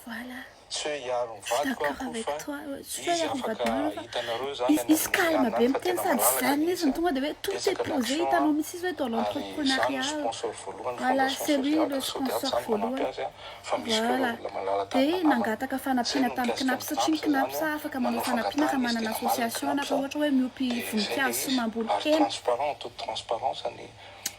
Voilà. Izy calme be miteny sady tsy zany izy no tonga dia hoe tout est posé hitanao mihitsy izy hoe dans l'entrepreneuriat voilà c'est lui le sponsor voalohany voilà dia nangataka fanampiana tamin'ny CNAPS satria ny CNAPS afaka manao fanampiana raha manana association na raha ohatra hoe miompy voninkazo sy mamboly hena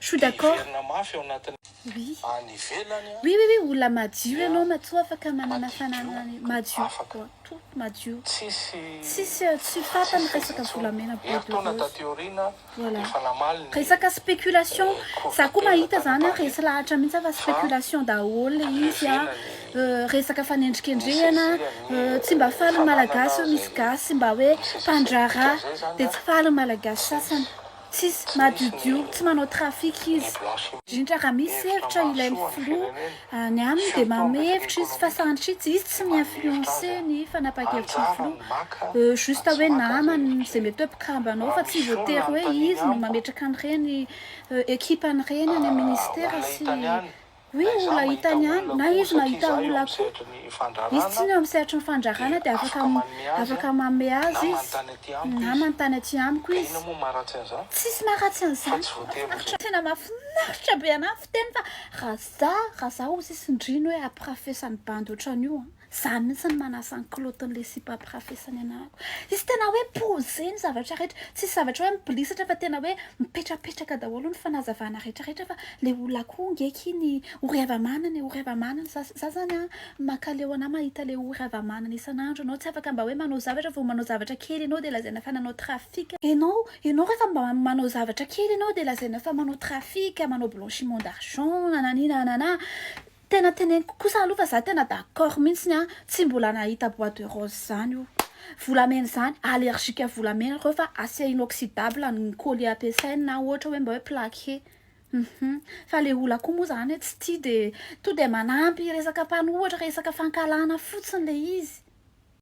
Choux d'accord. Miverina mafy ao anatin'ny any ivelany an. Oui oui oui olona madio ianao matoa afaka manana fananana ny madio afaka tout madio tsisy tsisy tsy tapany resaka volamena bois de rose herintaona taty aoriana voilà efa namaly ny resaka spéculation za koa mahita zany an resy lahatra mihitsy an fa spéculation daholo le izy an resaka fanendrikendrehana tsy mba faly ny malagasy misy gasy mba hoe mpandraharaha dia tsy faly ny malagasy sasany Tsisy madiodio, tsy manao trafic izy. Indrindra raha misy hevitra ilain'ny filoha, ny aminy dia manome hevitra izy fa sanatria tsy izy tsy mi-influencer ny fanapakevitry ny filoha. Juste hoe namany izay mety hoe mpikamba anao fa tsy voatery hoe izy no mametraka an'ireny ekipa an'ireny any amin'ny ministera sy Hoe olona hitany ihany, na izy mahita olona koa. Izy tsy ny eo amin'ny sehatry ny fandrarana dia afaka afaka manome azy izy. Namany tany aty amiko izy. Tsisy maharatsy an'izany. Mahafinaritra. Tena mahafinaritra be anah ny fiteniny fa raha za raha za ho sisin-drino hoe ampirafesan'ny bandy ohatran'io an. Za mihitsy no manasa ny kilaotin'ilay sipa ampirafesany anako. Izy tena hoe posé ny zavatra rehetra. Tsisy zavatra hoe mibilisatra fa tena hoe mipetrapetraka daholo ny fanazavana rehetrarehetra fa ilay olona koa nge akia ny ory hava-manana e, ory hava-manana. Za za zany an, mankaleo anà mahita ilay ory hava-manana isan'andro ianao. Tsy afaka mba hoe manao zavatra, vao manao zavatra kely ianao dia lazaina fa nanao trafic. Ianao, ianao rehefa mba manao zavatra kely ianao dia lazaina fa manao trafic, manao blanchiment d'argent, nananina nananà. Tena teneniko kosa aloha fa za tena d'accord mintsiny an, tsy mbola nahita bois de rose zany o. Volamena izany, allergique à volamena reo fa acier inoxydable ny collier ampiasainy na ohatra hoe mba hoe plaque he. Hum fa le olona koa moa zany hoe tsy tia dia tonga dia manampy resaka mpanohatra resaka fankahalana fotsiny le izy.